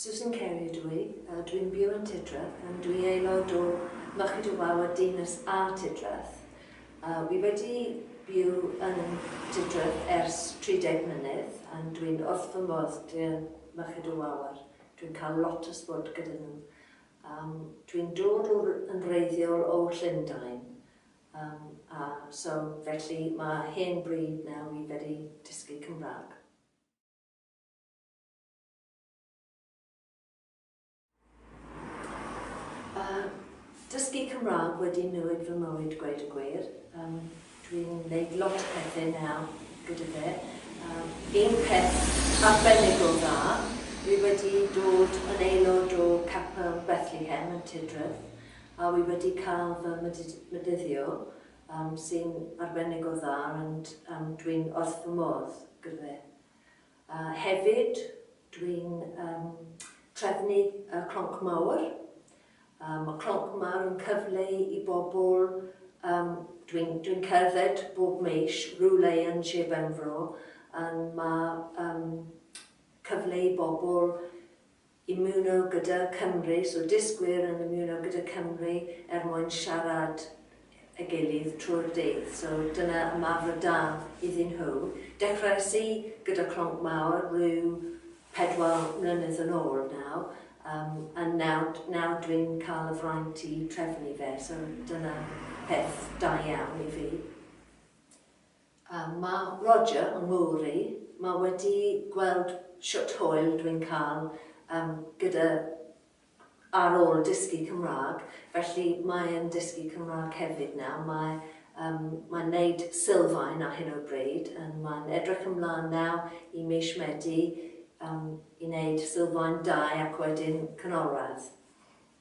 Susan Carey ydw i, a dwi'n byw yn Tudreth, and dwi aelod o Mochyd y Waw a Dinas A Tudreth. Wi wedi byw yn Tudreth ers 30 mlynedd, and dwi'n wrth fy modd 'da Mochyd y Wawr, dwi'n cael lot o swport gyda nhw. Dwi'n dod o yn wreiddiol o Llundain, a so felly ma' hen bryd nawr i wedi dysgu Cymraeg. dysgu Cymraeg wedi newid fy mywyd gweud y gwir. Um, Dwi'n gwneud lot o pethau nawr gyda fe. Um, un peth arbennig o dda, fi wedi dod yn aelod o Capel Bethlehem yn Tidref, a fi wedi cael fy medyddio sy'n arbennig o dda ond dwi'n wrth fy modd gyda fe. Hefyd, dwi'n trefnu y Clonc Mawr. Mae Clonc Mawr yn cyfle i bobl, dwi'n cerdded bob mis rywle yn Sir Benfro, mae cyfle i bobl ymuno gyda Cymru, so dysgwyr yn ymuno gyda Cymru er mwyn siarad â'i gilydd trwy'r dydd, so dyna ymarfer da iddyn nhw. Dechreuais i gyda Clonc Mawr ryw pedwar mlynedd yn ôl nawr, yym, a nawr, nawr dwi'n cael y fraint i trefnu fe, so dyna peth da iawn i fi. Mae Roger yng Nghymru, mae wedi gweld shwt hwyl dw i'n cael gyda ar ôl dysgu Cymraeg, felly mae e'n dysgu Cymraeg hefyd nawr, mae mae'n neud sylfaen ar hyn o bryd, yn mae'n edrych ymlan nawr i mis Medi i neud sylfaen dau ac wedyn canolradd.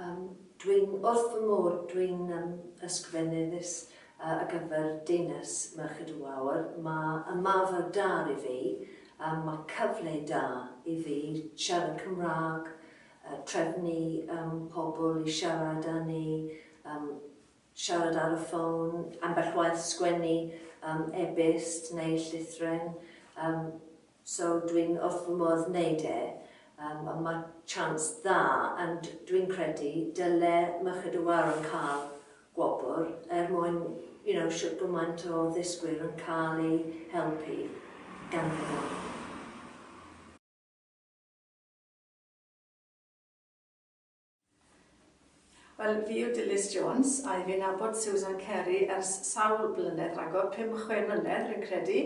Um, dwi'n wrth fy môr, dwi'n um, ysgrifennydd uh, ar gyfer Deunes Merched y Wawr. Mae ymarfer da i fi, a mae cyfle da i fi siarad Cymraeg, uh, trefnu um, pobl i siarad â ni, um, siarad ar y ffôn, ambell waith sgwennu um, e-byst neu llythren. Um, So dwi'n wrth fy modd wneud e, yym ond mae chance dda and dwi'n credu dyle Merched y Wawr yn cael gwobr er mwyn you know shwt gymaint o ddysgwyr yn cael eu helpu ganddyn nhw. Wel, fi yw Dilys Jones, a i fi'n nabod Susan Kerry ers sawl blynedd ragor, pum, chwe mlynedd rwy'n credu,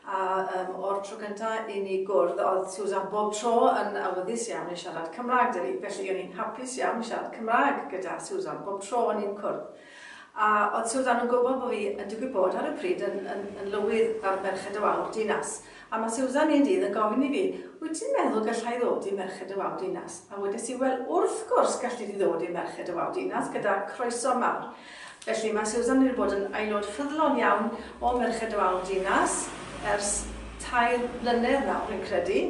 a um, o'r tro gynta i ni gwrdd, oedd Susan bob tro yn awyddus iawn i siarad Cymraeg 'da fi, felly o'n i'n hapus iawn i siarad Cymraeg gyda Susan bob tro o'n i'n cwrdd. A oedd Susan yn gwybod bod fi yn digwydd bod ar y pryd yn, yn, yn lywydd ar Merched y Wawr Dinas? A mae Susan un dydd yn gofyn i fi, wyt ti'n meddwl gallai ddod i Merched y Wawr Dinas? A wedes i, wel, wrth gwrs galli di ddod i Merched y Wawr Dinas, gyda croeso mawr. Felly mae Susan wedi bod yn aelod ffyddlon iawn o Merched y Wawr Dinas ers tair blynedd nawr, rwy'n credu.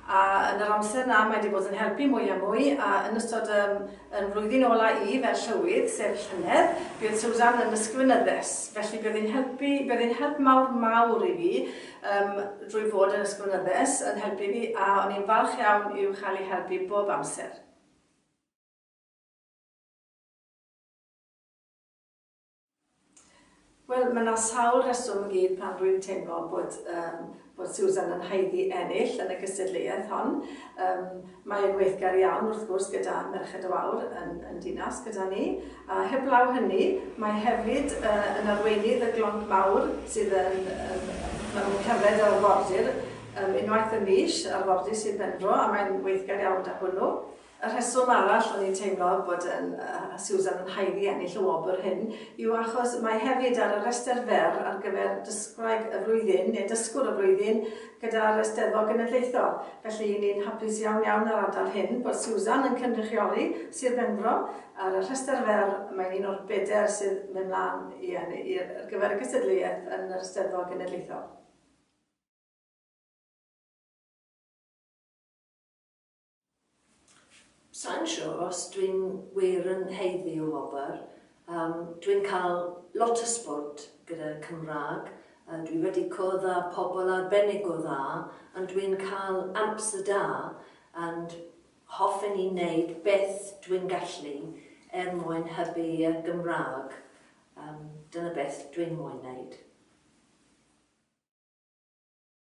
A yn yr amser 'na mae 'di bod yn helpu mwy a mwy, a yn ystod ym yn flwyddyn ola i fel Llywydd, sef llynedd, bydd Susan yn Ysgrifenyddes, felly bydd yn helpu, bydd yn help mawr mawr i fi ym drwy fod yn Ysgrifenyddes, yn helpu fi, a o'n i'n falch iawn i'w chael i helpu bob amser. Wel, mae 'na sawl rheswm i gyd pam rwy'n teimlo bod yym bod Susan yn haeddu ennill yn y gystadleuaeth hon. Yym mae e'n weithgar iawn wrth gwrs gyda Merched y Wawr yn yn dinas gyda ni, a heblaw hynny mae hefyd yy yn arweinydd y Glonc Mawr sydd yn yym ma' nhw'n cerdded yr arfordir yym unwaith y mis, arfordir Sir Benfro, a mae'n weithgar iawn 'da hwnnw. Y rheswm arall o'n i'n teimlo bod yn, yy, Susan yn haeddu ennill y wobr hyn yw achos mae hefyd ar y rhestr fer ar gyfer Dysgwraig y Flwyddyn, neu Dysgwr y Flwyddyn, gyda'r Eisteddfod Genedlaethol. Felly, i ni'n hapus iawn iawn yr ardal hyn bod Susan yn cynrychioli Sir Benfro ar y rhestr fer, mae'n un o'r bedair sydd mynd mlaen i enni- i ar gyfer y gystadleuaeth yn yr Eisteddfod Genedlaethol. Sai'n siwr os dwi'n wir yn haeddu y wobr. Yym, dwi'n cael lot o swport gyda Cymraeg, yy dwi wedi cwrdd â pobl arbennig o dda, ond dwi'n cael amser da, and hoffen i wneud beth dwi'n gallu er mwyn hybu y Gymraeg, yym dyna beth dwi'n moyn wneud.